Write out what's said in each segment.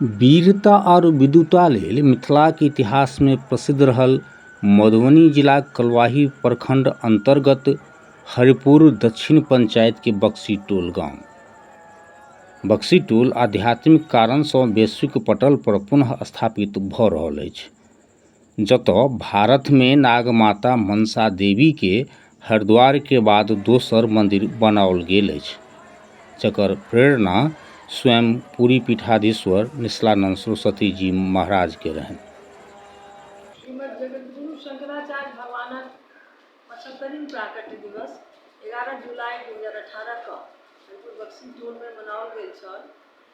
वीरता आओर विद्वता लेल मिथिलाक इतिहासमे प्रसिद्ध रहल मधुबनी जिलाक कलुआही प्रखण्ड अन्तर्गत हरिपुर दक्षिण पंचायतके बक्सी टोल गाँव बक्सी टोल आध्यात्मिक कारणसँ वैश्विक पटल पर पुनः स्थापित भऽ रहल अछि जतऽ भारतमे नागमाता मनसा देवीके हरिद्वारके बाद दोसर मन्दिर बनाओल गेल अछि जकर प्रेरणा स्वयं पुरी पीठाधीश्वर निश्चलानन्द सरस्वती जी महाराजके रहनि श्रीमद् जगद्गुरु शंकराचार्य भगवानक पचहत्तरिम प्राकट्य दिवस एगारह जुलाई दू हजार अठारह कऽ हरिपुर बक्सी टोलमे मनाओल गेल छल।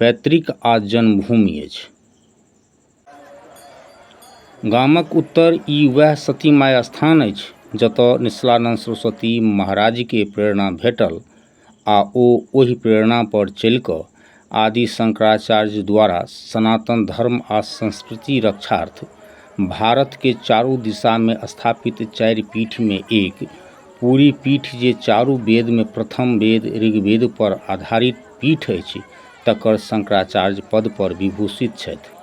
पैतृक आ जन्मभूमि अछि। गामक उत्तर ई वएह सती माय स्थान अछि जतय निश्चलानन्द सरस्वती महाराजकेँ प्रेरणा भेटल आ ओ ओहि प्रेरणा पर चलि कऽ आदि शंकराचार्य द्वारा सनातन धर्म आ संस्कृति रक्षार्थ भारतकेँ चारू दिशामे स्थापित चारि पीठमे एक पुरी पीठ जे चारू वेदमे प्रथम वेद ऋग्वेद पर आधारित पीठ अछि तकर शंकराचार्य पदपर विभूषित छथि।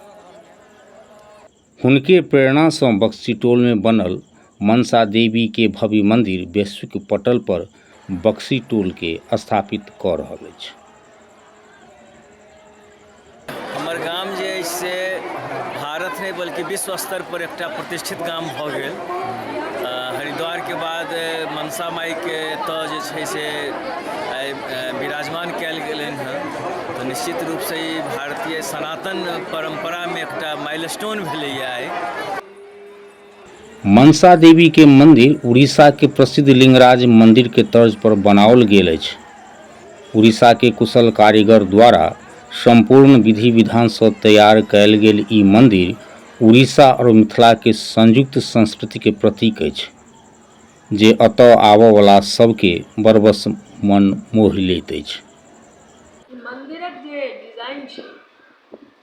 हुनके प्रेरणासँ बक्सीटोलमे बनल मनसा देवीके भव्य मन्दिर वैश्विक पटलपर बक्सीटोलके स्थापित कऽ रहल अछि। हमर गाम जे अछि से भारत नहि बल्कि विश्व स्तर पर एकटा प्रतिष्ठित गाम भऽ गेल हरिद्वार के बाद मनसा माई के एतऽ जे छै से विराजमान कयल गेलनि हँ तऽ निश्चित रूप से ई भारतीय सनातन परम्परा मे एकटा माइलस्टोन भेलैया आइ मनसा देवी के मंदिर उड़ीसा के प्रसिद्ध लिंगराज मंदिर के तर्ज पर बनाओल गेल अछि। उड़ीसा के कुशल कारीगर द्वारा संपूर्ण विधि-विधान स तैयार कएल गेल ई मंदिर उड़ीसा और मिथिला के संयुक्त संस्कृति के प्रतीक अछि, जे अतः आवऽ वला सब के बरबस मन मोहि लैत अछि। ई मंदिरक जे डिजाइन छै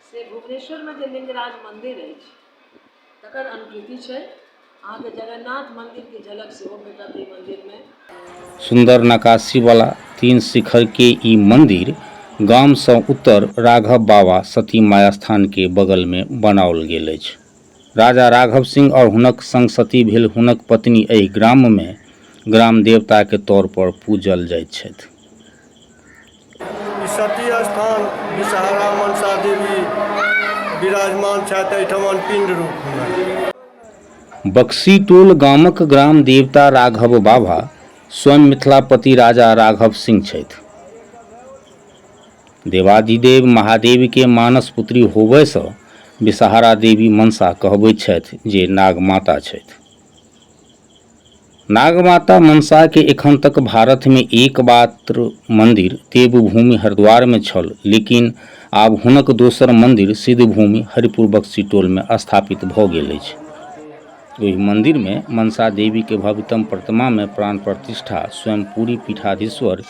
से भुवनेश्वर मे जे लिंगराज मंदिर अछि। तकर अनुकृति छै अहाँके जगन्नाथ मन्दिरके झलक सेहो भेटत एहि मन्दिरमे सुन्दर नकाशीवाला तीन शिखरके ई मन्दिर गामसँ उत्तर राघव बाबा सती माया स्थानके बगलमे बनाओल गेल अछि राजा राघव सिंह आओर हुनक संग सती भेल हुनक पत्नी एहि ग्राममे ग्राम देवताके तौर पर पूजल जाइत छथि ई सती स्थान विषहारा मनसा देवी विराजमान छथि एहिठाम पिंड रूपमे बक्सीटोल गामक ग्राम देवता राघव बाबा स्वयं मिथिलापति राजा राघव सिंह छथि देवाधिदेव महादेवके मानस पुत्री होबयसँ विषहारा देवी मनसा कहबैत छथि जे नागमाता छथि नागमाता मनसा के एखन तक भारत में एक मात्र मंदिर देवभूमि हरिद्वार में छल, लेकिन आब हुनक दोसर मंदिर सिद्धभूमि हरिपुर बक्सी टोल में स्थापित भ गेल अछि। ओहि मंदिर में मनसा देवी के भव्यतम प्रतिमा में प्राण प्रतिष्ठा, स्वयं पुरी पीठाधीश्वर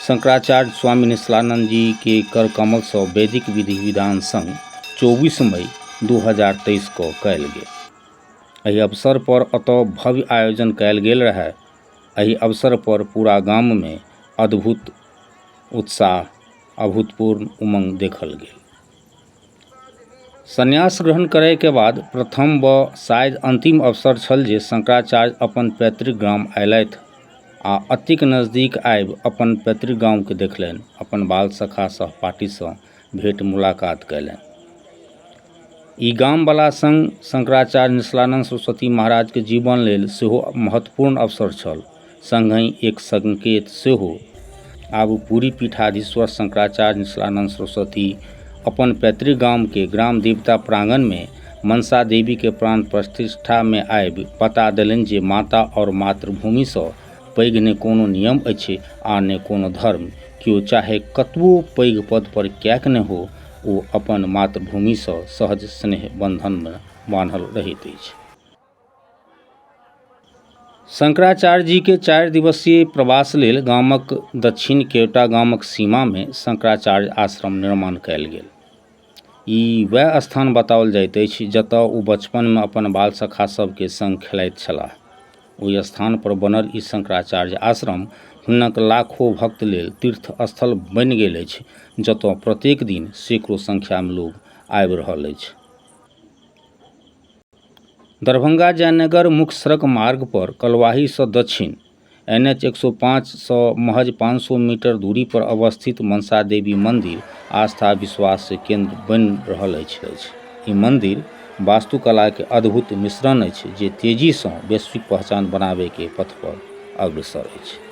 शंकराचार्य स्वामी निश्चलानंद जी के कर कमल स वैदिक विधि-विधान संग चौबीस मई दू हजार तेईस क कयल गेल। एहि अवसर पर एतय भव्य आयोजन कयल गेल रहय एहि अवसर पर पूरा गाम मे अद्भुत उत्साह अभूतपूर्व उमंग देखल गेल संन्यास ग्रहण करय के बाद प्रथम व शायद अंतिम अवसर छल जे शंकराचार्य अपन पैतृक ग्राम अयलथि आ अतिक नजदीक आबि अपन पैतृक गाम के देखलनि अपन बाल सखा सहपाठी सँ भेँट मुलाकात कएलनि ई गामवला सङ्ग शंकराचार्य निसलानन्द सरस्वती महाराजके जीवन लेल सेहो महत्वपूर्ण अवसर छल सङ्गहि एक सङ्केत सेहो आब ओ पूरी पीठाधीश्वर शंकराचार्य निसलानन्द सरस्वती अपन पैतृक गामके ग्राम देवता प्राङ्गणमे मनसा देवीके प्राण प्रतिष्ठामे आबि बता देलनि जे माता आओर मातृभूमिसँ पैघ नहि कोनो नियम अछि आ नहि कोनो धर्म केओ चाहे कतबो पैघ पद पर किएक नहि हो ओ अपन मातृभूमिसँ सहज स्नेह बन्धनमे बान्हल रहैत अछि शंकराचार्य जी के चारि दिवसीय प्रवास लेल गामक दक्षिण केवटा गामक सीमामे शंकराचार्य आश्रम निर्माण कयल गेल ई वएह स्थान बताओल जाइत अछि जतऽ ओ बचपनमे अपन बाल सखा सबके सङ्ग खेलाइत छलाह ओहि स्थानपर बनल ई शंकराचार्य आश्रम हुनक लाखो भक्त लेल तीर्थ स्थल बनि गेल अछि जतऽ प्रत्येक दिन सैकड़ो संख्यामे लोग आबि रहल अछि दरभंगा जयनगर मुख्य सड़क मार्गपर कलुआहीसँ दक्षिण एन एच एक सए पाँचसँ महज पाँच सए मीटर दूरीपर अवस्थित मनसा देवी मन्दिर आस्था विश्वासके केन्द्र बनि रहल अछि अछि ई मन्दिर वास्तुकलाके अद्भुत मिश्रण अछि जे तेजीसँ वैश्विक पहचान बनाबयके पथपर अग्रसर अछि